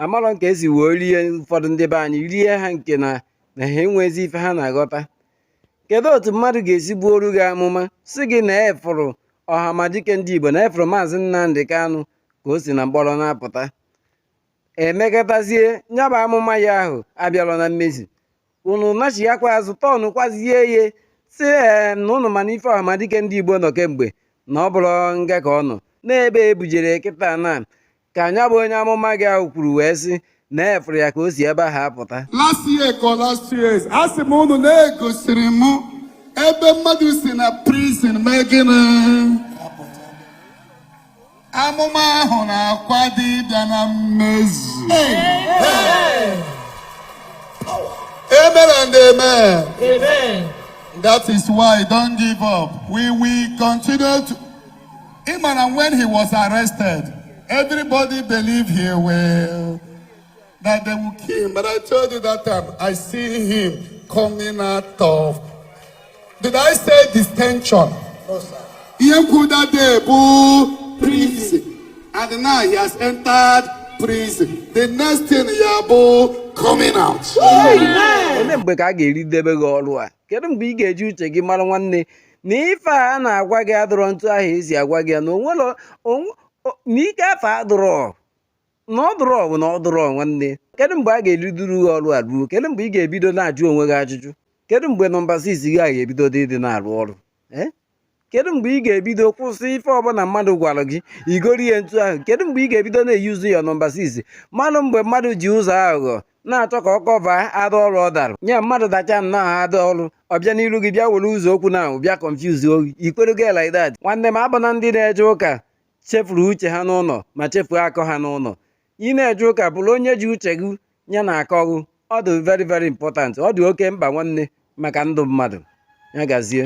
amarọ ka esi wee rie ụfọdụ ndị be anyị rie ha nke na na ha enwezi ife ha na-aghọta kedu otu mmadụ ga-esi buoro gị amụma sị gị na afụrụ ọhamadike ndị igbo na afụrụ maazị nnamdi kanụ ka o si na mkpọrọ na-apụta emekatazie nyabụ amụma ya ahụ abịarọ na mmezu unu nachighakwa azụ tọnụkwazie ihe sị ee na unu ma na ife ọhamadike ndị igbo nọ kemgbe na ọ bụrọ nga ka ọ nọ n'ebe ebujere kịta na ka nyabụ onye amụma gị ahụ kwuru wee sị na afụrụ ya ka o si ebe ahụ apụta last year ka last year a sị m unu na-egosiri m ebe mmadụ si na prison mee gịnị amụma ahụ na-akwado ịbịa na mmezu amen and amen Amen. that is why don't give up we will continue to Even when he was arrested, everybody believed he will that they will kill him. But I told you that time, I see him coming out of. Did I say detention? No, sir. Ihe m kwuru that day bụ prison. And now he has entered prison. The next thing ya bụ coming out. Ole mgbe ka a ga-eridebe gị ọrụ a? kedu mgbe ị ga-eji uche gị mara nwanne na ife a na-agwa gị adụrọ ntụ ahụ esi agwa gị ya na onwere na ike afụ adụrọ na ọ dụrọ bụ na ọ dụrọ nwanne kedu mgbe a ga-eriduru gị ọrụ a ruo kedu mgbe ị ga-ebido na-ajụ onwe gị ajụjụ kedu mgbe nọmba 6 gị a ga-ebido dị ịdị na-arụ ọrụ kedu mgbe ị ga-ebido kwụsị ife ọbụla mmadụ gwara gị igori ya ntụ ahụ kedu mgbe ị ga-ebido na-eyuzu ya nọmba 6 manụ mgbe mmadụ ji ụzọ aghụghọ na-achọ ka ọ cover ada ọrụ ọ dara nye mmadụ dacha nnọọ ada ọrụ ọ bịa n'iru gị bịa were ụzọ okwu na ahụ bịa confuse gị i kwere gị like that nwanne m abụna ndị na-eje ụka chefuru uche ha n'ụlọ ma chefuo akọ ha n'ụlọ ị na-eje ụka bụrụ onye ji uche gị ya na akọ gị ọ dị very very important ọ dị oke mkpa nwanne maka ndụ mmadụ ya gazie